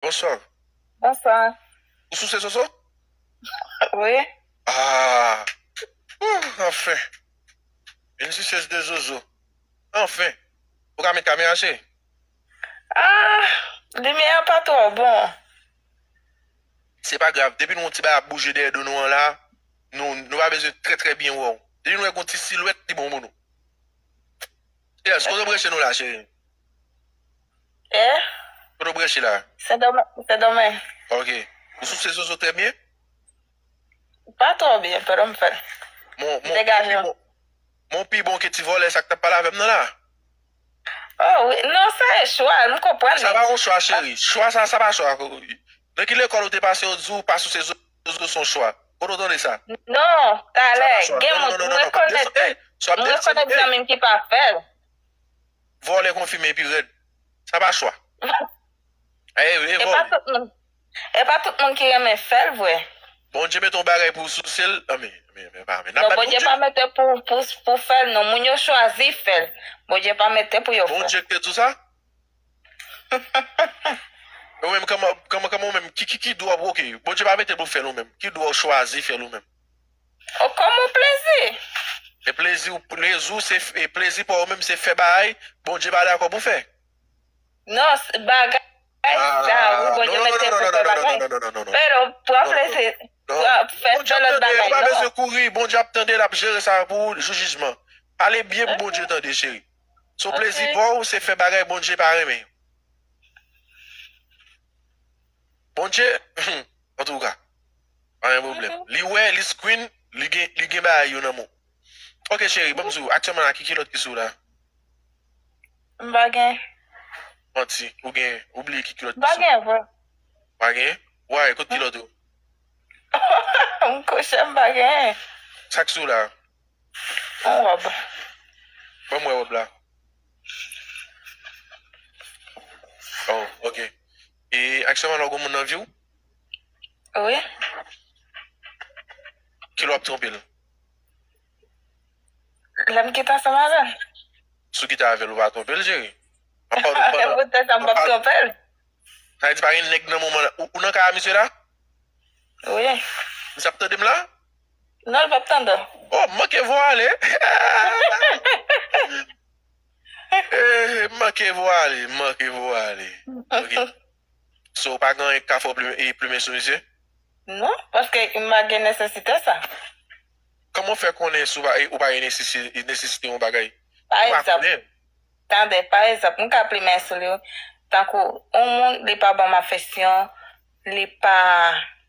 Bonsoir. Bonsoir. Ou souse soso? Oui. Ah! Ooh anfen! Une suceuse de zozo. Anfen! Ou ka met kamera chérie? Ah! Limyè a pa twò bon. Se pa grav, depi nou wè yon ti bagay ap bouje dèyè do nou an la, nou pa bezwen trè trè byen wè w. Depi nou wè gen yon ti silwèt, li bon pou nou. Yes, kote w branche nou la chérie? Eh? Kote w branche la? Sendomeng, Sendomeng. Ok. Ou souse zozo trè byen? Pa twò byen, pero m fè l. Mon, mon, Degaje w. mon pi bon ke ti vòlè sa k t ap pale avè m nan la? Oh wi, non sa e chwa l, m konprann li. Sa pa yon chwa cheri. Chwa sa, sa pa chwa. Nan ki lekòl ou te pase yo di w pa souse zozo son chwa? Kote w tande sa? Non, talè, gen moun, m rekonèt, m rekonèt zanmi m ki pa fè l. Vòlè konfime epi rèd. Sa pa chwa. E vòlè. E pa tout moun ki renmen fèl vre. Bondye mete yon bagay pou sousel anmeyy. Non bondye pa mete pou fèl non moun yo chwazi fèl bondye pa mete pou yo fèl. Bondye ki te di w sa? Ou menm kòman ou menm ki dwa ou bwoke? Bondye pa mete pou fèl ou menm. Ki dwa ou chwazi fèl ou menm? Oh kòm ou plezi! E plezi ou plezi ou se e plezi pa ou menm se fè bagay Bondye pa dakò pou fè? Non bagay sa wi Bondye mete pou fè bagay pero pran plezi fè fè lòt bagay non. Bondye ap tande ou pa bezwen kouri Bondye ap tande lap jere sa pou ou jou jijman pale byen pou Bondye tande cheri so plezi pa ou se fè bagay Bondye pa renmen yo. Bondye humm antouka pa gen pwoblèm li wè li screen li gen bagay yo nan men w ok cheri banm diw aktyèman la ki kilòt ki sou w la? M pa gen. Manti ou gen ou bliye ki kilòt ki sou w. M pa gen vre. Ou pa gen? Why kot kilòt ou? M kouche m pa gen. Sak sou w la? Yon wòb. Banm wè wòb la. Oh ok. E aktyèman la ou gen yon moun nan viw? Wi. Kilè wap tronpel? Lèm kite ansanm avèl. Si w kite avèl ou pa tronpel cheri? E poutèt sa m pap tronpel? Sa vle di pa gen nèg nan moman la. Ou nan kay a misye la? Wi. Misye ap tandem la? Non li pap tande w. Oh m manke vo ale. Eeh m manke vwale, m manke vwale. Ok. So ou pa gen anyen k ka fè w plumen sou misye? Non, paske m pa gen nesesite sa. Kòman w fè konnen si ou pa gen nesesite yon bagay? Pa egzanp, tande, pa egzanp, m ka plumen sou li tankou yon moun li pa ban m afeksyon, li pa.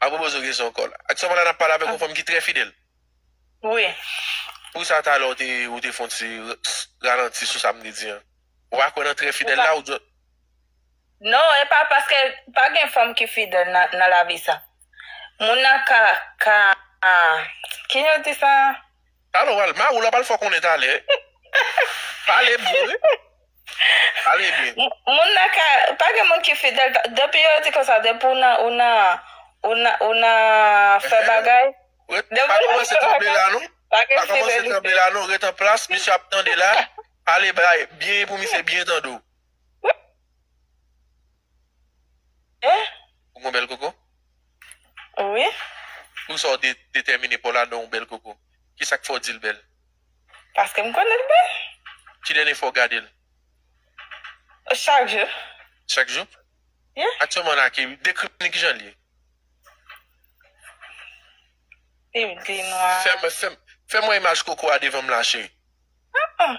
A pwopo zo gen son kòl. Ak soma la nap pale avèk yon fanm ki trè fidèl. Wi. Pou sa talè ou te ou te fon ti ralanti sou sa m te di an. Ou pa kwè nan trè fidèl la ou just. Non e pa paske pa gen fanm ki fidèl nan nan lavi sa. Moun nan ka ka ki jan yo di sa? Talè w pral mari w la pral fè w konnen talè. Pale byen wi. Pale byen. Moun nan ka pa gen moun ki fidèl depi yo di konsa depi ou nan ou nan ou nan fè bagay depi pa kòmanse tranble la non pa gen fidelite ret an plas misye ap tande la pale byen pou misye byen tande w. Mwen? Ou gon bèl koko? Wi. Pou sa w detèmine Paul a donw bèl koko? Ki sa k fè w di l bèl? Paske m konnen l bèl. Ki dènye fwa w gade l? Chak jou. Chak jou? Wi. Aktyèlman la ki, dekri m li ki jan l ye? Li bgy nwa. Fè mwen imaj koko a devan m la cheri. An an.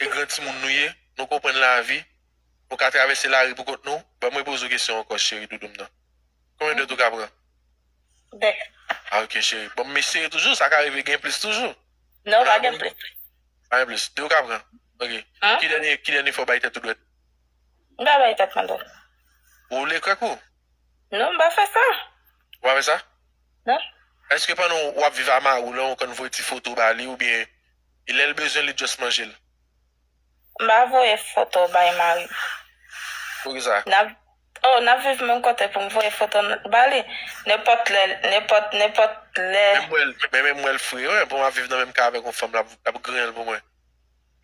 e gran timoun nou ye, nou konprann lavi, nou ka travèse lari pou kont nou, banm repoze w kesyon ankò cheri doudou m nan. Konbyen dwèt ou ka pran? 2. Ah ok cheri. Bon m eseye toujou, sa ka rive gen plis toujou. Non, pa gen plis. Pa gen plis. 2 ou ka pran? Ok. Ki dènye, ki dènye fwa w bay tèt ou dwèt? M pa bay tèt mwen dwèt. Ou woule krèk ou? Non, m pa fè sa. Ou pa fè sa? Non. Eske pandan w ap viv a mari w lan ou konn voye ti foto ba li oubyen e lèl bezwen li just manjel. M pa voye foto w bay marim. Poukisa? Nap oh nap viv menm kote poum voye foto n ba li nenpòt lè nenpòt nenpòt lè. Menm wèl men menm wèl fre wi pou map viv nan menm kay avèk yon fanm lap griyen l pou mwen.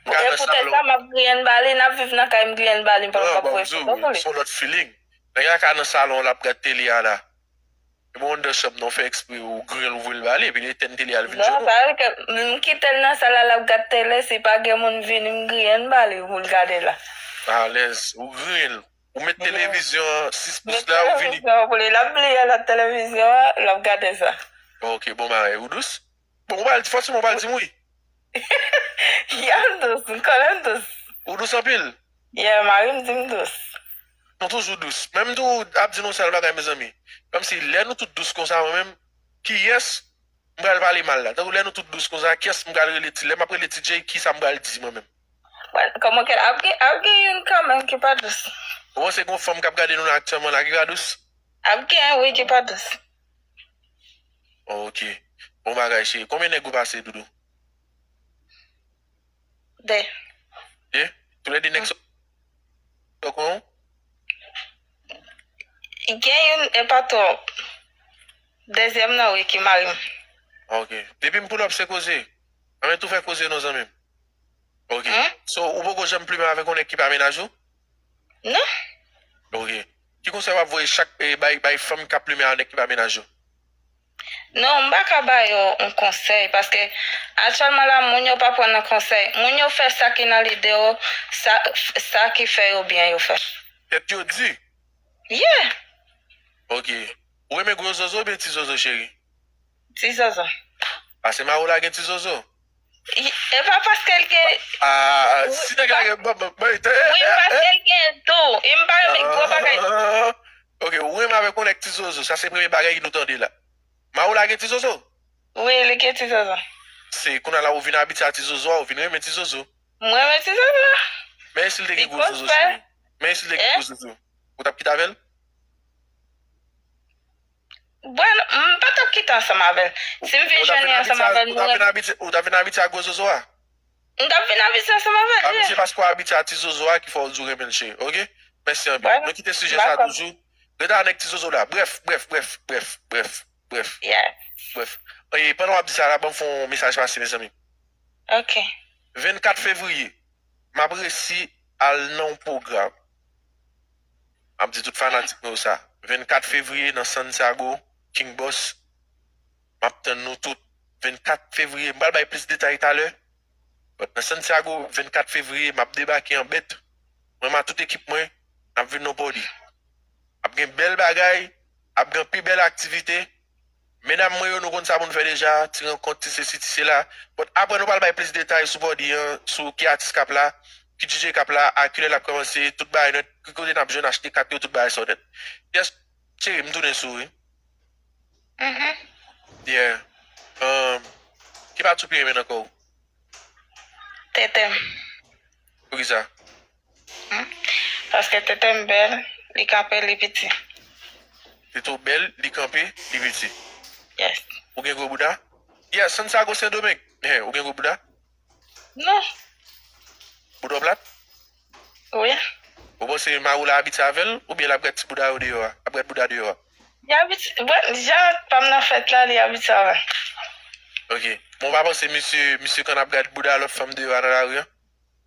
Se poutèt sa map griyen l ba li nap viv nan kay m griyen l ba li m pap voye foto pou li. Son lòt feeling. Nèg la ka nan salon lap gad tele a la. Li bon anndan chanm nan ou fè ekspre ou grel ou voyel bale epi li etèn tele al vin jwenn ou. Non pa vre m kitel nan sal la lap gad tele si pa gen moun vini m griyen m bale pou l gade la. Alèz ou griyen l. Ou met televizyon 6 pous la ou vini. Met televizyon pou li lap bliye lòt televizyon an lap gade sa. Ok bon bagay ou dous. Bon ou pral di fòseman ou pral dim wi. Yal dous, m konnen m dous. Ou dous anpil? Yeah marim di m dous. Nou toujou dous. Menm tou ap di nou sèl bagay mezanmi. Kòmsi lè nou tout dous konsa mwen menm kiyès m pral pale mal la. Tankou lè nou tout dous konsa kiyès m pral rele ti lè map rele ti Jay kisa m pral di mwen menm. Mwen kòman kèt ap gen ap gen youn kanmenm ki pa dous. Ou panse gon fanm kap gade nou la aktyèlman la ki ka dous? Ap gen wi ki pa dous. Ok bon bagay cheri konbyen nèg ou pase doudou. 2. 2? Tou lè 2 nèg sa yo pran ou? Gen youn e pa twòp. Dezyèm nan wi ki mari m. Ok depim poulòp se koze. Anben tou fè koze non zanmim. Ok so ou poko janm plumen avèk yon nèg ki pa mennaj ou? nan. Ok. Ki konsèy wap voye chak bay bay fanm kap plumen a nèg ki pa menaj yo? Non m pa ka ba yo yon konsèy paske aktyèlman la moun yo pa pran nan konsèy, moun yo fè sa ki nan lide yo, sa sa ki fè yo byen yo fè. Tèt yo di? Yeah! Ok. Ou renmen gwo zozo oubyen ti zozo cheri? Ti zozo. Pase mare w lage ti zozo. Epa paske l gen. Aah si nèg la gen banm banm banm tè. Wi paske l gen tou e m pa renmen gwo bagay. Ok ou renmen avèk yon nèg ti zozo sa se premye bagay nou tande la. Maroula gen ti zozo? Wi li gen ti zozo. Se kounya la ou vin abitye a ti zozo a ou vin renmen ti zozo. M renmen ti zozo. Men e si l te gen gwo zozo cheri? Men e si l te gen gwo zozo? Ou tap kite avèl? Bueno, m pa t ap kite ansanm avè l. Si m fin jwenn li ansanm avè l, nou renmen. Ou t ap vin abitye a gwo zozo a? M t ap vin abitye ansanm avè l, ye. Abitye paske w abitye a ti zozo a ki fè w di w renmen l, cheri. Ok? Mèsi anpil. Bueno. Nou kite sijè sa toujou. Rete avè nèg ti zozo la. Brèf, brèf, brèf, brèf, brèf, brèf. Yeah. Brèf. E pandan w ap di sa la, ban m fè yon mesaj pase, mezanmi. Ok. 24 fevriye, m ap resi al nan yon pwogram. Map di tout fanatik mwen yo sa. 24 fevriye nan Santiago, King Boss, map tann nou tout. 24 fevriye, m pral bay plis detay talè. But nan Santiago, 24 fevriye, map debake an bèt. Mwen ma tout ekip mwen, nap vin non pòdi. Ap gen bèl bagay, ap gen pi bèl aktivite. Medam mwen yo nou konn sa pou nou fè deja, ti rankont, ti sesi, ti sela. But aprè nou pral bay plis detay sou body an, sou ki atis kap la, ki DJ kap la, a kilè lap kòmanse, tout bagay nèt, ki kote nap jwenn achte kat yo, tout bagay sa yo nèt. Yes cheri m tounen sou ou wi. Uhmm. Yeah. Umm ki pati ou pi renmen nan kò ou? Tete m. Poukisa? Paske tetem bel li kanpe li piti. Tete w bel li kanpe li piti. Yes. Ou gen gwo bouda? Yes, Santiago sendomeng. Hein, ou gen gwo bouda? Non. Bouda w plat? Wi. Ou panse mari w la abitye avè l oubyen l ap gad ti bouda yo deyò a, ap gad bouda deyò a? Li abitye, bon, jan pa m nan fèt la li abitye avè l. Ok. Men w pa panse misye, misye kan ap gad bouda lòt fanm deyò a nan lari an?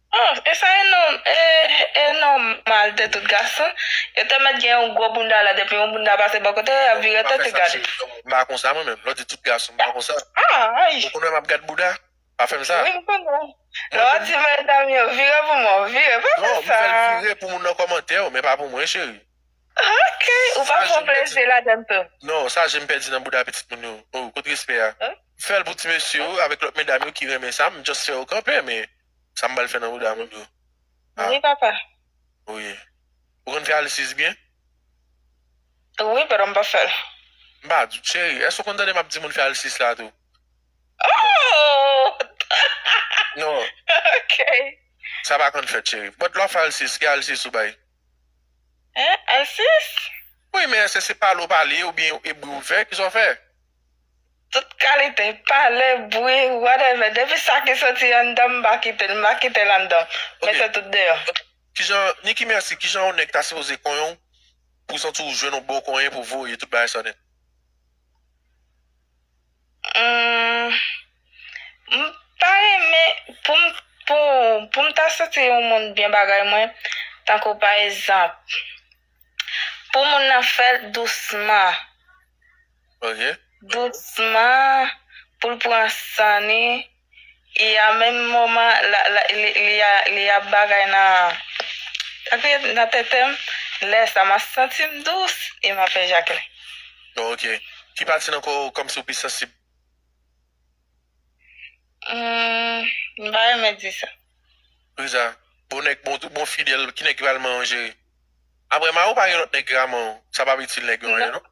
Ohh e sa e non e e nòmal de tout gason yo te mèt gen yon gwo bounda la depi yon bounda pase bò kote yo yap vire tèt yo gade. M pa konsa mwen menm, lè w di tout gason m pa konsa. Ou konn wè map gad bouda? Pa fèm sa. Wi m konnen w. Lè w di medam yo vire pou mwen w vire, pa fè sa. Non, m fè l vire pou moun nan kòmantè yo men pa pou mwen cheri. Ok ou pa pran plezi ladann tou. Non sa jem pèdi nan bouda pitit moun yo oh kot respè a fèl pou ti mesye yo avèk lòt medam yo ki renmen sa m just fè yo kanpe men sa m bal fè nan bouda moun yo ah wi papa oh yeah ou konn fè alisiz byen wi but m pa fèl m pa di w cheri èske ou konn tande map di moun fè alisiz la tou oh ok sa pa konn fèt cheri but lè wap fè alisiz ki alisiz ou bay. Hein Alcis? Wi men èske se pale w pale oubyen yon ebri w fè, kisa w fè? Tout kalite, pale, bri, whatever, depi sa ki soti anndan m m pa kite l, m pa kite l anndan m, men se tout deyò. Kijan, Niki Merci, kijan yon nèg ta sipoze konyen w pou w santi w jwenn yon bon konyen pou w voye tout bagay sa nèt? Humm m pa renmen poum pou poum ta soti yon moun byen bagay mwen tankou pa ezanp pou moun nan fèl dousman ok dousman poul pran san ni. e a menm moman li ap bagay nan sa ki rele nan tetem lè sa map santim dous e map ejakile. Ok. Ki pati nan kò ou kòmsi ou pi sansib? Humm m pa renmen di sa. Poukisa? Bon nèg bon tout bon fidèl ki nèg ki pral manyen w jere? Aprè mariw pa gen lòt nèg ki ka manyen w sa pap itil nèg yo anyen non.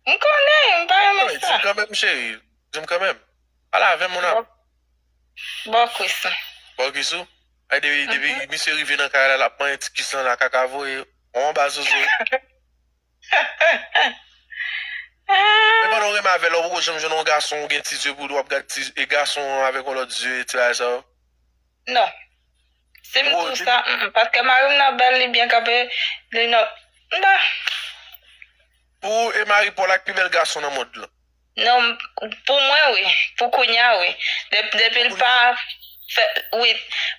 M konnen, m pa renmen sa. Di m kanmenm cheri, di m kanmenm. Pale avèm mon am. Bò kwis ou. Bò kwis ou? Ay depi misye rive nan kay la lap manyen ti kwis lan la kaka voye ou anba zozo. Men pandan ou renmen avèl la ou poko janm jwenn yon gason ou gen ti zye pou wap gad ti gason an avèk yon lòt zye ti bagay sa yo? Non. Sim diw sa humm paske marim nan bèl li byen kanpe li nan mpa. Pou ou e mari Paul ak pi bèl gason nan mond lan? Non pou mwen wi pou kounya wi depil pa fè wi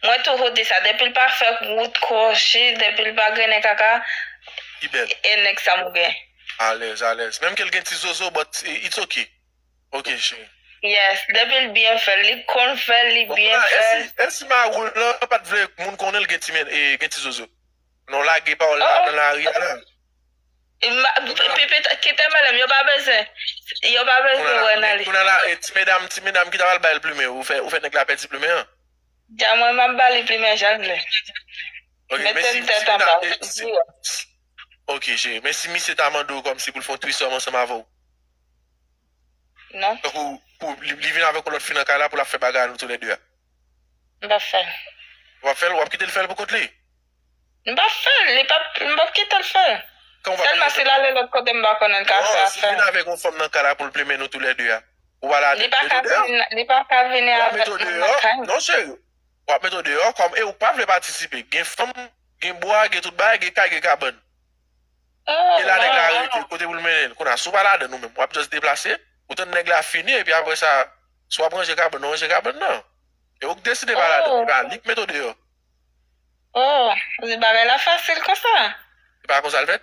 mwen touhou di sa depil pa fè wout kwochi depil pa grennen kaka e nèg sa mwen gen. Alèz alèz menm kel gen ti zozo but it's ok ok cheri. Yes depil byen fèl li konn fèl li byen fèl. Esi maroul lan pat vle moun konnenl gen ti zozo non lage pawòl la nan lari a nan. Kite madam yo pa bezwen yo pa bezwen wè nan li. Kounye la ti medam ti medam ki ta pral bay l plumen ou fè ou fè nèg la pèdi plumen an. Jan mwen map ba li plumen jan l vle. Ok men si ti medam si Ok cheri men si misye ta mande w kòmsi pou l fè yon threesome ansanm avè w. Non. Tankou pou li vin avèk yon lòt fi nan kay la pou l ap fè bagay a nou tou lè de a. M pap fè l. Ou pap fè l ou ap kite l fè l pou kont li? M pap fèl li pap m pap kitel fèl sèlman si lale lòt kote m pa konnen l ka fè afèl. Non si vin avèk yon fanm nan kay la poul plimen nou tou lè 2 a ou pral avèl met ou deyò. Li paka vini avèk moun nan kay mwen. Non cheri wap met ou deyò kòm e ou pa vle patisipe gen fanm gen bwa gen tout bagay gen kay gen kabann e la nèg la rete kote poul mennen l kounye a si w pa ladann ou menm wap just deplase ou tann nèg la fini epi apresa si wap ranje kabann ou ranje kabann nan e ou k deside pa ladann epa li k met ou deyò. Oh se bagay la fasil konsa. Se pa konsa l fèt.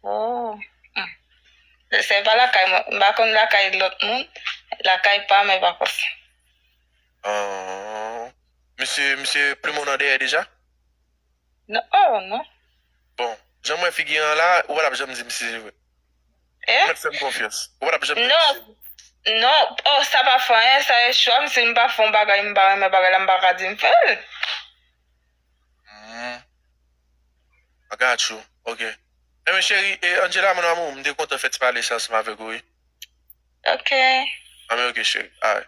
Oh humm se pa lakay mwen m pa konn lakay lòt moun lakay pa m e pa konsa. Ahh misye misye plumen w nan dèyè deja. Non oh non. Bon jan m wè figi an la ou pa tap janm di m si se vre. Hein? Mèt fèm konfyans. Ou pa tap janm fèm Non, siy. non, oh sa pa fè anyen, sa e chwa m, si m pa fè yon bagay m pa renmen bagay la m pa ka di m fè l. Humm. I got you. Ok. Anyway cheri, eh Angela mon amour, m te kontan fè ti pale sa ansanm avèk ou wi. Ok. Anmwey ok cheri. Alright.